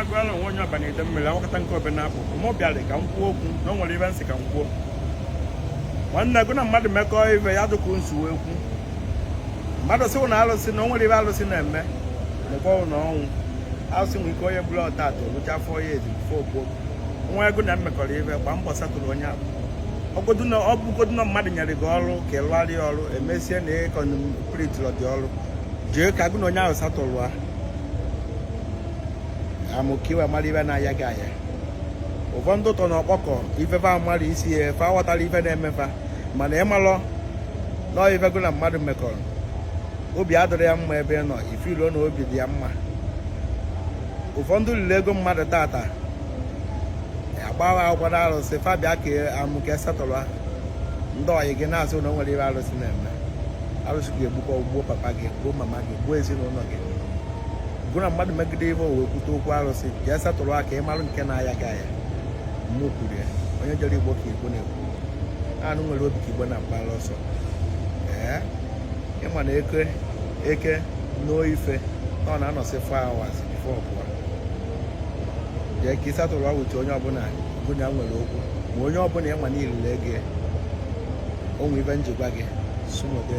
agụala onwe onye ọbana ide mmiri awakọta nke obe na apụ mụ bịara ka m kwuo okwu na o nwere ibe m sị ka m kwuo nwanne gụ na mmadụ mekọọ ibe ya dụkwu nsuwe ekwu mmadụ sịwụ na alụsị na o nwere ibe alụsị na-eme mekọọ na ọnwụ alụsị nwere ike onye ọbụla ọtata olucha afọ ya ezi fo okwu nwa ego na mmekọrọ ibe gbaa mbọ settle onye ahụ ọ bụgodu na mmadụ nyere gị ọrụ ka ị lụgharị ọrụ emesie na ị completirọ dị ọrụ jee ka gụ na onye ahụ settle ya ka ị wee mara ibe na-aya gị aya ụfọdụ tọ na ọkpọkọ ifefe mmadụ isi ya efe aghọtara ife na-emefa mana ị malụ na ife gụ na mmadụ mekọrọ obi adịrọ ya mma ebe ị nọ ifiluo na obi dị ya mma ụfọdụ liri ego mmadụ tata agbawa akwụkwọ na arụsị fa bịa ka amụ ka e settle ha ndị ọyị gị na-asị na o nwere ibe arụsị na-eme arụsị ga-egbu gụ gbuo papa gị gbuo mama gị gbuo ezinụlọ gị gụ na mmadụ megide ibe o wee kwute okwu arụsị jee settle ha ka ị marụ nke na-aya gị aya mụ kwuru ya onye jọrọ igbo ka igbo na-ekwu anụ nwere obi ka igbo na-agbara ọsọ ee ị ma na eke eke n'oife na ọ na-anọsị 4 hours before ọ pụọ jee ka ị settle awụchi onye ọbụla gụ na ya nwere okwu ma onye ọbụla ị ma na i lili ego o nwe ibe njikwa gị sumode